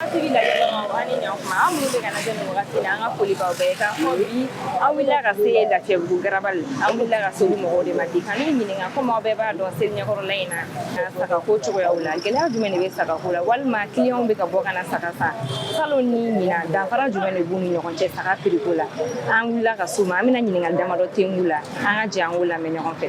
Hakili la ɲɔgɔn ani ɲɔgɔn aw minnu bɛ k'an lajɛ nin wagati la an ka foli b'aw bɛɛ k'a fɔ bi an wulila ka se Lafiyabugu garabali an wulila ka se olu mɔgɔw de ma bi ka n'u ɲininka komi aw bɛɛ b'a dɔn seli ɲɛkɔrɔla in na sagako cogoyaw la gɛlɛya jumɛn de bɛ sagako la walima kiliyanw bɛ ka bɔ ka na saga san salon ni ɲinan danfara jumɛn de b'u ni ɲɔgɔn cɛ saga piriko la an wulila ka se u ma an bɛna ɲininkali damadɔ ten k'u la an ka jɛ an k'u lamɛn ɲɔgɔn fɛ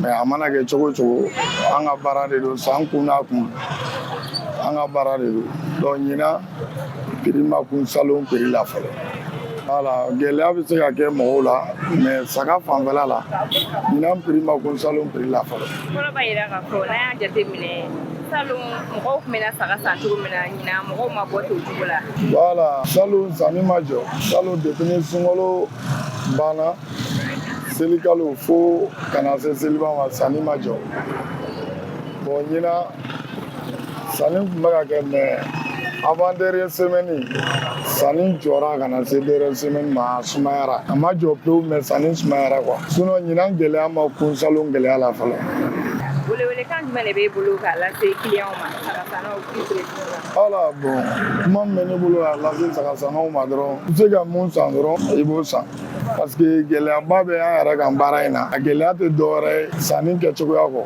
mais a mana kɛ cogo o cogo an ka baara de don san kun n'a kun an ka baara de don donc ɲinan piri ma kun salon piri la fɔlɔ voilà gɛlɛya bɛ se ka kɛ mɔgɔw la mais saga fanfɛla la ɲinan piri ma kun salon piri la fɔlɔ kɔrɔ b'a jira k'a fɔ n'an y'a jateminɛ salon mɔgɔw tun bɛ na saga san cogo min na ɲinan mɔgɔw ma bɔ ten o cogo la voilà salon sanni ma jɔ salon depuis ni sunkalo banna selikalo fo ka na se seliba ma sanni ma jɔ bon ɲinan sanni tun bɛ ka kɛ mais avant dernière semaine sanni jɔra ka na se dernière semaine ma a sumayara a ma jɔ pewu mais sanni sumayara quoi sinon ɲinan gɛlɛya ma kun salon gɛlɛya la fɔlɔ welewelekan jumɛn de b'e bolo k'a lase kiliyanw ma sagasannaw k'i Voilà bon kuma min bɛ ne bolo k'a lase sagasannaw ma dɔrɔn i bɛ se ka mun san dɔrɔn i b'o san parce que gɛlɛyaba bɛ an yɛrɛ kan baara in na a gɛlɛya tɛ dɔwɛrɛ ye sanni kɛcogoya kɔ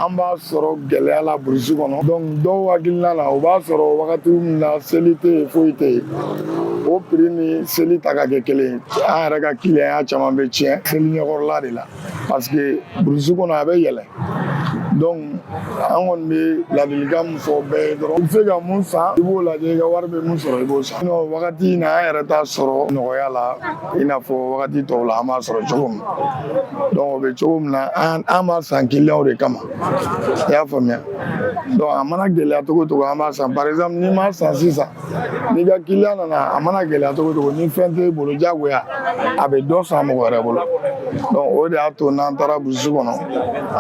an b'a sɔrɔ gɛlɛya la burusi kɔnɔ donc dɔw hakilina na o b'a sɔrɔ wagati min na seli tɛ yen foyi tɛ yen o piri ni seli ta ka kɛ kelen an yɛrɛ ka kiliyanya caman bɛ tiɲɛ seli ɲɛkɔrɔla de la parce que burusi kɔnɔ a bɛ yɛlɛ donc an kɔni bɛ ladilikan min fɔ bɛɛ ye dɔrɔn i bɛ se ka mun san i b'o lajɛ i ka wari bɛ mun sɔrɔ i b'o san sinon wagati in na an yɛrɛ t'a sɔrɔ nɔgɔya la i n'a fɔ wagati tɔw la an b'a sɔrɔ cogo min donc o bɛ cogo min na an b'a san kiliyanw de kama i y'a faamuya donc a mana gɛlɛya cogo o cogo an b'a san par exemple n'i m'a san sisan n'i ka kiliyan nana a mana gɛlɛya cogo o cogo ni fɛn t'e bolo jagoya a bɛ dɔ san mɔgɔ wɛrɛ bolo donc o de y'a to n'an taara burusi kɔnɔ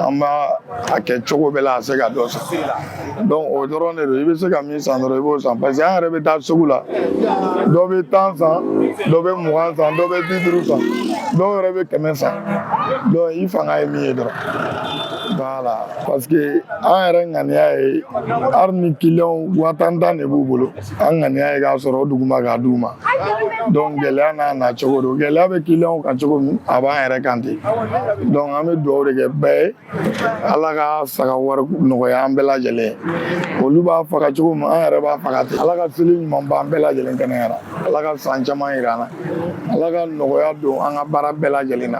an b'a a kɛ cogo bɛɛ la a se ka dɔ san donc o dɔrɔn de don i bɛ se ka min san dɔrɔn i b'o san parce que an yɛrɛ bɛ taa sugu la dɔ bɛ tan san dɔ bɛ mugan san dɔ bɛ bi duuru san dɔw yɛrɛ bɛ kɛmɛ san donc i fanga ye min ye dɔrɔn voilà parce que an yɛrɛ ŋaniya ye hali ni kiliyanw waa tan tan de b'u bolo an ŋaniya ye k'a sɔrɔ o duguma k'a d'u ma donc gɛlɛya n'a na cogo don gɛlɛya bɛ kiliyanw kan cogo min a b'an yɛrɛ kan ten donc an bɛ dugawu de kɛ bɛɛ ye ala ka saga wari nɔgɔya an bɛɛ lajɛlen olu b'a faga cogo min an yɛrɛ b'a faga ten ala ka seli ɲuman b'an bɛɛ lajɛlen kɛnɛya la ala ka san caman yira an na ala ka nɔgɔya don an ka baara bɛɛ lajɛlen na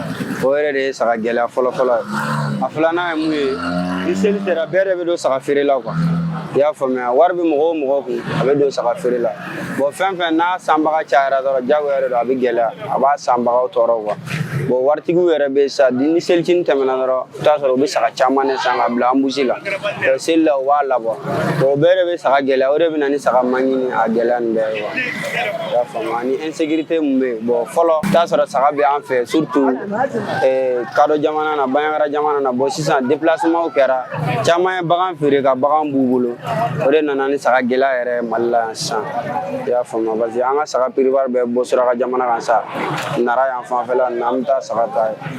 o yɛrɛ de ye saga gɛlɛya fɔlɔfɔlɔ ye a filanan ye mun ye ni seli sera bɛɛ de bɛ don saga feere la quoi i y'a faamuya wari bɛ mɔgɔ o mɔgɔ kun a bɛ don saga feere la bon fɛn fɛn n'a sanbaga cayara dɔrɔn jagoya yɛrɛ don a bɛ gɛlɛya a b'a sanbagaw tɔɔrɔ quoi bon waritigiw yɛrɛ bɛ sa ni selicinin tɛmɛna dɔrɔn i bɛ t'a sɔrɔ u bɛ saga caman de san ka bila embouche la seli la u b'a labɔ o bɛɛ de bɛ saga gɛlɛya o de bɛ na ni saga manque ni a gɛlɛya nin bɛɛ ye quoi i y'a faamu ani insécurité mun bɛ yen bon fɔlɔ i bɛ t'a sɔrɔ saga bɛ an fɛ surtout kadɔ jamana na bandiagara jamana na bon sisan déplacement kɛra caman ye bagan feere ka bagan b'u bolo o de nana ni saga gɛlɛya yɛrɛ ye mali la yan sisan i y'a faamu parce que an ka saga plupart bɛ bɔ suraka jamana kan sa nara yan fanfɛla nin na an bɛ taa saga ta yen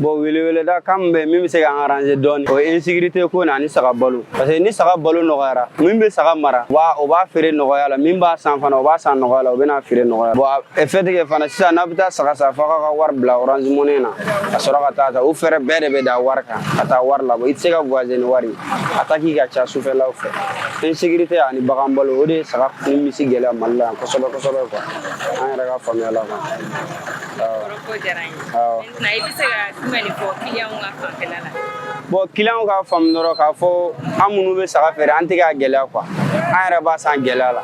bon weleweleda kan min bɛ min bɛ se k'an arranger dɔɔni o ye insécurité ko na ani saga balo parce que ni saga balo nɔgɔyara min bɛ saga mara o b'a feere nɔgɔya la min b'a san fana o b'a san nɔgɔya la o bɛna feere nɔgɔya bon fait que fana sisan n'a bɛ taa saga san f'a ka wari bila orange money na ka sɔrɔ ka taa ta o frais bɛɛ de bɛ da wari kan ka taa wari labɔ i tɛ se ka voyager ni wari attaque ka ca sufɛlaw fɛ insécurité ani bagan balo o de ye saga ni misi gɛlɛya mali la yan kosɛbɛ kosɛbɛ quoi an yɛrɛ ka faamuya la quoi na i bɛ se ka jumɛn de fɔ kiliyanw ka fanfɛla la bon kiliyanw ka faamu dɔrɔn k'a fɔ an minnu bɛ saga feere an tɛ k'a gɛlɛya quoi an yɛrɛ b'a san gɛlɛya la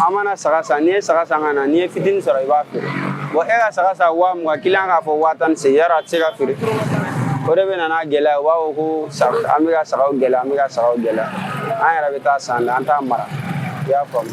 an mana saga san n'i ye saga san ka na n'i ye fitini sɔrɔ i b'a feere bon e ka saga san waa mugan kiliyan k'a fɔ waa tan ni segin yɔrɔ a tɛ se ka feere o de bɛ na n'a gɛlɛya u b'a fɔ ko an bɛ ka sagaw gɛlɛya an bɛ ka sagaw gɛlɛya an yɛrɛ bɛ taa san an t'a mara i y'a faamu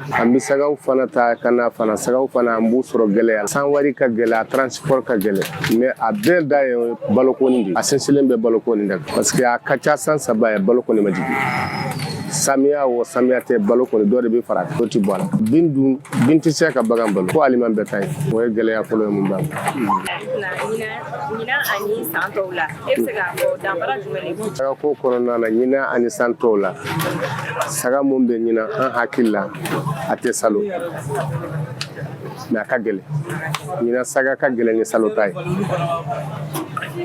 An bɛ sagaw fana ta ka na fana sagaw fana an b'u sɔrɔ gɛlɛya la san wari ka gɛlɛn a transport ka gɛlɛn mais a bɛɛ da ye baloko in de ye a sinsinlen bɛ baloko in de kan parce que a ka ca san saba ye baloko in ma jigin samiya o samiya tɛ balo kɔni dɔ de bɛ fara dɔ tɛ bɔ a la bin dun bin tɛ se ka bagan balo ko aliment bétail o ye gɛlɛya fɔlɔ ye mun b'a la ɲinan ani san tɔw la E bɛ se k'a fɔ danfara jumɛn de b'u cɛ? Saga ko kɔnɔna na ɲinan ani san tɔw la, saga min bɛ ɲinan an hakili la a tɛ salo mais a ka gɛlɛn, ɲinan saga ka gɛlɛn ni salo ta ye,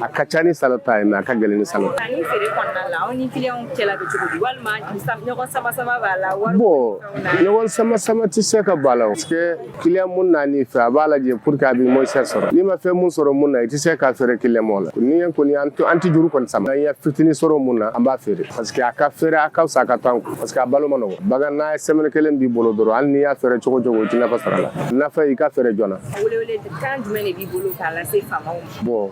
a ka ca ni salo ta ye mais a ka gɛlɛn ni salo ta ye. Sanni feere kɔnɔna la aw ni kiliyanw cɛla bɛ cogo di walima ɲɔgɔn sama-sama b'a la? Bon ɲɔgɔn sama-sama tɛ se ka b'a la parce que Kiliyan mun nan'i fɛ a b'a lajɛ pour que a bɛ moins cher sɔrɔ n'i ma fɛn mun sɔrɔ mun na i tɛ se k'a feere kiliyan ma o la ni kɔni an tɛ an tɛ juru kɔni sama n'an ye fitinin sɔrɔ mun na an b'a feere parce que a ka feere a ka fisa a ka to an kun parce que a balo man nɔgɔ bagan n'a ye semaine kelen b'i bolo dɔrɔn hali n'i y'a feere cogo o cogo i tɛ nafa sɔrɔ a la nafa i k'a feere joona. Welewelekan jumɛn de b'i bolo k'a lase faamaw ma. bon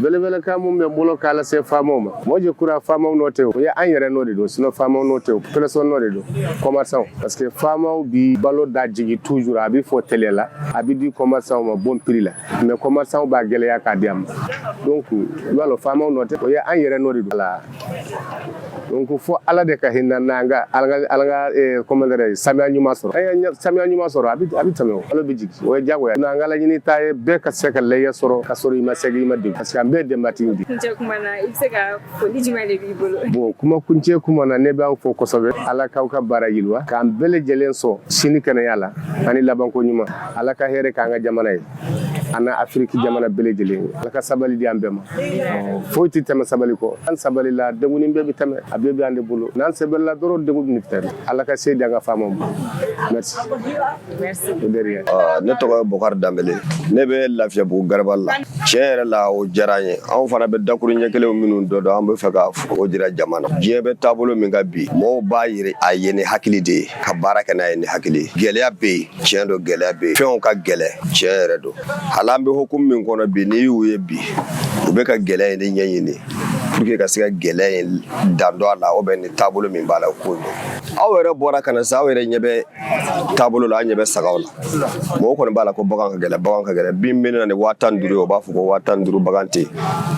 welewelekan mun bɛ n bolo k'a lase faamaw ma moi je crois faamaw nɔ tɛ o ye an yɛrɛ nɔ de don sinon faamaw nɔ tɛ o population nɔ de don commerçantw parce que faamaw bi balo da jigin toujours a bi fɔ tele la a bi di commerçantw ma bon prix la mais commerçantw b'a gɛlɛya k'a di an ma donc i b'a lɔn faamaw nɔ tɛ o ye an yɛrɛ nɔ de don la donc fo ala de ka hinɛ an na an ka ala ka ala ka comment dire samiya ɲuman sɔrɔ an ye samiya ɲuman sɔrɔ a bɛ a bɛ tɛmɛ o a da bɛ jigin o ye diyagoya n'an ka laɲini ta ye bɛɛ ka se ka layiya sɔrɔ ka sɔrɔ i ma sɛgɛn i ma degun parce que an bɛɛ denbatigi de kuncɛ kuma na i bɛ se ka foli jumɛn de b'i bolo bon kuma kuncɛ kuma na ne b'aw fo kosɛbɛ ala k'aw ka baara yiriwa k'an bɛɛ lajɛlen sɔn sini kɛnɛya la ani labanko ɲuman ala ka hɛrɛ k'an ka jamana ye ani afiriki jamana bɛɛ lajɛlen ala ka sabali di an bɛɛ ma foyi tɛ tɛmɛ sabali kɔ an sabalila degun bɛɛ bɛ tɛmɛ a bɛɛ bɛ an de bolo n'an sabalila dɔrɔn degun bɛ tɛmɛ ala ka se di an ka faamaw ma merci ne tɔgɔ ye bokari danbɛlɛ ne bɛ lafiyabugu garabali la tiɲɛ yɛrɛ la o diyara n ye anw fana bɛ dakuru ɲɛ kelen minnu dɔ dɔn an bɛ fɛ ka o jira jama na diɲɛ bɛ taabolo min kan bi mɔgɔw b'a yira a ye ni hakili de ye ka baara kɛ n'a ye ni hakili ye gɛlɛya bɛ yen tiɲɛ don gɛlɛya bɛ yen fɛnw ka gɛlɛn tiɲɛ yɛrɛ don hali an bɛ hukumu min kɔnɔ bi n'i y'u ye bi u bɛ ka gɛlɛya in de ɲɛɲini pour que ka se ka gɛlɛya in dan dɔ a la u bɛ ni taabolo min b'a la o ko aw yɛrɛ bɔra ka na sa aw yɛrɛ ɲɛ bɛ taabolo la an ɲɛ bɛ sagaw la mɔgɔw kɔni b'a la ko bagan ka gɛlɛn bagan ka gɛlɛn min bɛ na ni waa tan duuru ye o b'a fɔ ko waa tan duuru bagan tɛ yen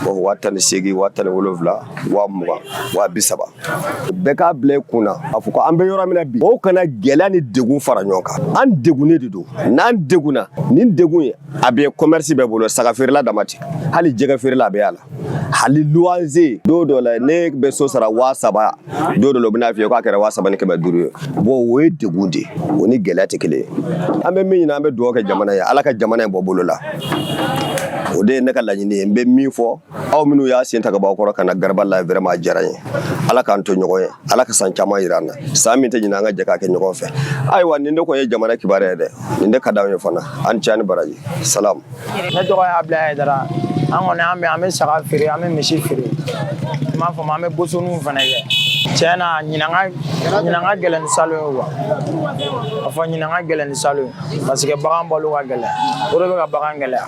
o waa tan ni seegin waa tan ni wolonwula waa mugan waa bi saba bɛɛ k'a bila i kun na a fɔ ko an bɛ yɔrɔ min na bi mɔgɔw kana gɛlɛya ni degun fara ɲɔgɔn kan an degunnen de don n'an degunna nin degun ye a bɛ kɔmɛrisi bɛɛ bolo saga feerela dama tɛ hali jɛgɛ feerela a bɛ y'a la hali luwanze don dɔ la ne bɛ so sara waa saba don dɔ la u bɛna f'i ye k'a kɛra waa saba ni kɛmɛ duuru ye bon o ye degun de ye o ni gɛlɛya tɛ kelen ye an bɛ min ɲini an bɛ dugawu kɛ jamana ye ala ka jamana in bɔ bolo la o de ye ne ka laɲini ye n bɛ min fɔ aw minnu y'aw sen ta ka bɔ aw kɔrɔ ka na garabali la vraiment a diyara n ye ala k'an to ɲɔgɔn ye ala ka san caman yira an na san min tɛ ɲinan an ka jɛ k'a kɛ ɲɔgɔn fɛ ayiwa nin de kɔni ye jamana kibaruya ye dɛ nin de ka d'anw ye fana a ni ce ni baraji salam ne tɔgɔ ye abudulayi ayidara an kɔni an bɛ an bɛ saga feere an bɛ misi feere n b'a fɔ ma an bɛ bosoniw fana kɛ tiɲɛ na ɲinan ka ɲinan ka gɛlɛn ni salon ye quoi a fɔ ɲinan ka gɛlɛn ni salon ye parce que bagan balo ka gɛlɛn o de bɛ ka bagan gɛlɛya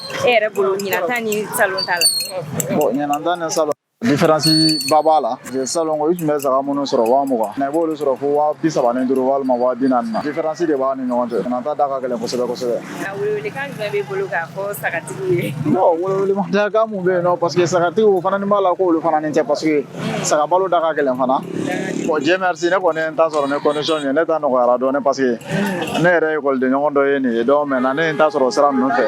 e yɛrɛ bolo ɲinan ta ni salon ta la bon ɲinan ta ni salon diferansi ba b'a la salon ko i tun bɛ saga minnu sɔrɔ waa mugan na i b'olu sɔrɔ fo waa bi saba ni duuru walima waa bi naani na diferansi de b'a ni ɲɔgɔn cɛ ɲinan ta da ka gɛlɛn kosɛbɛ kosɛbɛ welewelekan jumɛn b'i bolo k'a fɔ sagatigiw ye welewelekan mun bɛ yen nɔ paseke sagatigiw fana ni b'a la k'olu fana nɔ tɛ paseke saga balo da ka gɛlɛn fana bon dieu merci ne kɔni ye n ta sɔrɔ ni condition ye ne ta nɔgɔyara dɔɔni parce que ne yɛrɛ ye ekɔliden ɲɔgɔn dɔ ye nin ye donc maintenant ne ye n ta sɔrɔ sira ninnu fɛ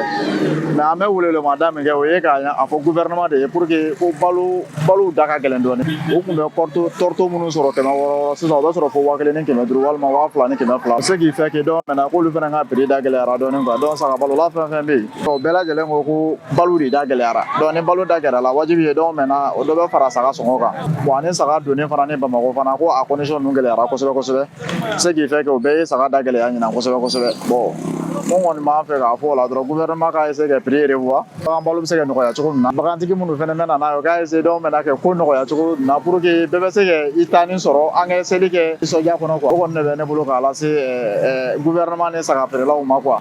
mais an bɛ welewelemada min kɛ o ye k'a fɔ gouvernement de ye pour que ko balo balow da ka gɛlɛn dɔɔni o tun bɛ tourteau tourteau minnu sɔrɔ kɛmɛ wɔɔrɔ wɔɔrɔ sisan o bɛ sɔrɔ fo waa kelen ni kɛmɛ duuru walima waa fila ni kɛmɛ fila ce qui fait que donc maintenant k'olu fana ka prix da gɛlɛyara dɔɔni quoi donc saga balo la fɛn fɛn bɛ yen O bɛɛ lajɛlen ko ko balo de da gɛlɛyara donc ni balo da gɛlɛyara wajibi ye donc maintenant o dɔ bɛ fara saga sɔngɔ kan bon ani saga donni fana ni Bamakɔ fana ko a condition ninnu gɛlɛyara kosɛbɛ kosɛbɛ ce qui fait que o bɛɛ ye saga da gɛlɛya ɲinan kosɛbɛ kosɛbɛ ko kɔni b'an fɛ k'a fɔ o la dɔrɔn gouvernement ka essayer ka prix revoir bagan balo bɛ se ka nɔgɔya cogo min na bagantigi minnu fana bɛ na n'a ye o ka essayer donc maintenant ka ko nɔgɔya cogo na pour que bɛɛ bɛ se ka i ta nin sɔrɔ an ka seli kɛ nisɔndiya kɔnɔ quoi o kɔni de bɛ ne bolo k'a lase gouvernement ni saga feerelaw ma quoi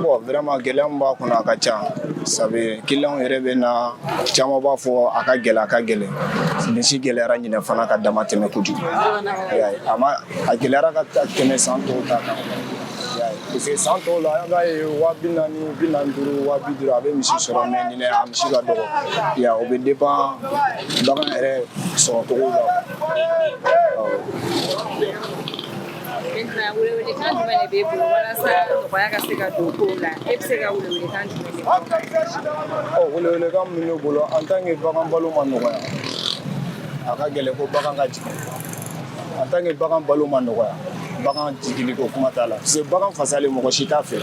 Bon vraiment gɛlɛya min b'a kɔnɔ a ka ca sabu clients yɛrɛ bɛ na caman b'a fɔ a ka gɛlɛ a ka gɛlɛ misi gɛlɛyara ɲinɛ fana ka dama tɛmɛ kojugu a ma a gɛlɛyara ka tɛmɛ san tɔw ta kan parce que san tɔw la an b'a ye waa bi naani bi naani duuru waa bi duuru a bɛ misi sɔrɔ mais ɲinɛ a misi ka dɔgɔ ya o bɛ dépend bagan yɛrɛ sɔrɔ cogo la Maintenant, welewelekan jumɛn de b'e bolo, walasa nɔgɔya ka se ka don kow la. E bɛ se ka welewelekan jumɛn de fɔ? Welewelekan min bɛ ne bolo, en tant que bagan balo ma nɔgɔya. A ka gɛlɛn ko bagan ka jigin. En tant que bagan balo ma nɔgɔya. Bagan jigili ko kuma t'a la. Parce que bagan fasalen mɔgɔ si t'a fɛ.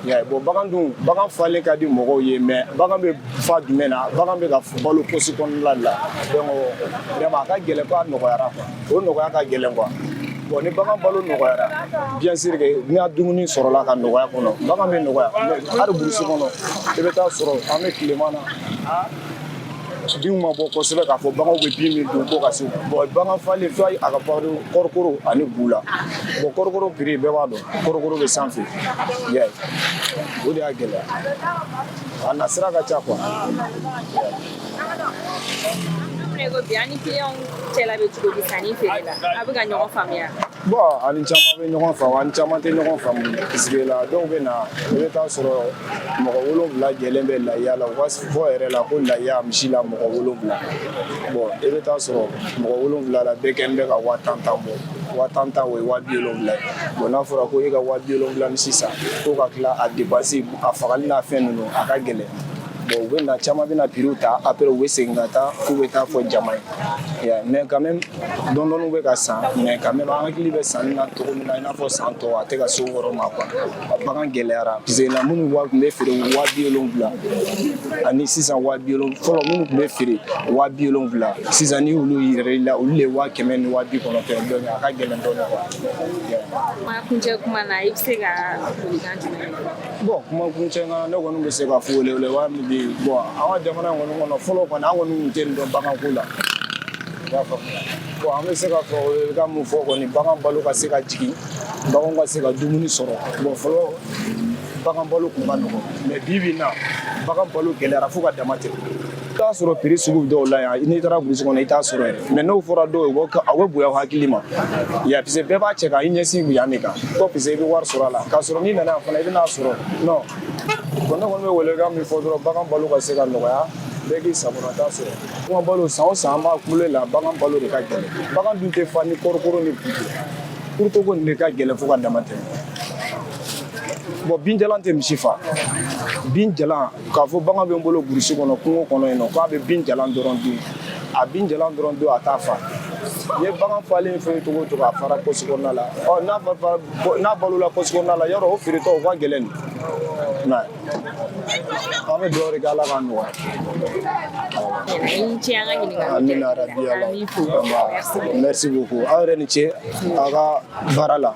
Yeah, bon bagan dun bagan falen ka di mɔgɔw ye mais bagan bɛ fa jumɛn na bagan bɛ ka balo posi kɔnɔna la donc vraiment a ka gɛlɛn ko a nɔgɔyara quoi o nɔgɔya ka gɛlɛn quoi bon ni bagan balo nɔgɔyara bien sûr que ni a dumuni sɔrɔla ka nɔgɔya kɔnɔ bagan bɛ nɔgɔya hali burusi kɔnɔ i bɛ taa sɔrɔ an bɛ tilema na binw ma bɔ kosɛbɛ k'a fɔ baganw bɛ bin min dun ko ka se bon bagan falen fo a ka balo kɔɔrikolo ani bu la bon kɔɔrikolo prix bɛɛ b'a dɔn kɔɔrikolo bɛ sanfɛ i y'a ye o de y'a gɛlɛya a nasira ka ca quoi ne ko bi a ni kiliyanw cɛla bɛ cogo di sanni feere la a bɛ ka ɲɔgɔn faamuya bon an ni caman bɛ ɲɔgɔn faamu an ni caman tɛ ɲɔgɔn faamu parce que la dɔw bɛ na i bɛ taa sɔrɔ mɔgɔ wolonwula jɛlen bɛ layiya la u b'a fɔ yɛrɛ la ko layiya misi la mɔgɔ wolonwula bon i bɛ taa sɔrɔ mɔgɔ wolonwula la bɛɛ kɛlen bɛ ka waa tan tan bɔ waa tan tan o ye waa bi wolonwula ye bon n'a fɔra ko e ka waa bi wolonwula misi san ko ka tila a depansi a fagali n'a fɛn ninnu a ka gɛlɛn u bɛ na caman bɛna prix ta après u bɛ segin ka taa k'u bɛ taa fɔ jama ye mais quand même dɔɔni bɛ ka san mais quand même an hakili bɛ sanni na cogo min na i n'a fɔ san tɔw a tɛ ka se o yɔrɔ ma quoi bagan gɛlɛyara parce que minnu tun bɛ feere waa bi wolonwula ani sisan fɔlɔ minnu tun bɛ feere waa bi wolonwula sisan ni olu yɛrɛ la olu de waa kɛmɛ ni waa bi kɔnɔntɔn donc a ka gɛlɛn dɔɔni quoi kuma kuncɛ kuma na i bɛ se ka Bon kuma kuncɛ na ne kɔni bɛ se ka fɔ wele wa min bɛ yen bon an ka jamana kɔni kɔnɔ fɔlɔ kɔni an kɔni tun tɛ nin dɔn baganko la i y'a faamu bon an bɛ se ka fɔ ka mun fɔ kɔni bagan balo ka se ka jigin bagan ka se ka dumuni sɔrɔ bon fɔlɔ bagan balo tun ka nɔgɔ mais bi bi in na bagan balo gɛlɛyara fo ka dama tɛ i t'a sɔrɔ prix sugu dɔw la yan n'i taara burusi kɔnɔ i t'a sɔrɔ yɛrɛ mais n'o fɔra dɔw ye a bɛ bonya hakili ma ya parce que bɛɛ b'a cɛ ka i ɲɛsin yan de kan ko parce que i bɛ wari sɔrɔ a la k'a sɔrɔ n'i nana yan fana i bɛn'a sɔrɔ non bon ne kɔni bɛ welekan min fɔ dɔrɔn bagan balo ka se ka nɔgɔya bɛɛ k'i sagonata sɔrɔ bagan balo san o san an b'a kule la bagan balo de ka gɛlɛn bagan dun tɛ fa ni kɔɔrikolo ni tourteau ko nin de ka gɛlɛn fo ka dama tɛmɛ bon binjalan tɛ misi fa bin jalan k'a fɔ bagan bɛ n bolo burusi kɔnɔ kungo kɔnɔ yen nɔ k'a bɛ bin jalan dɔrɔn dun a bin jalan dɔrɔn dun a t'a fa n'i ye bagan falen fɛn cogo o cogo a fara pɔsi kɔnɔna la ɔ n'a fa n'a balola pɔsi kɔnɔna la yɔrɔ o feeretɔ o ka gɛlɛn dɛ mais an bɛ dugawu de kɛ ala k'a nɔgɔya ni ce an ka ɲininkali amina rabi ala merci beaucoup aw yɛrɛ ni ce aw ka baara la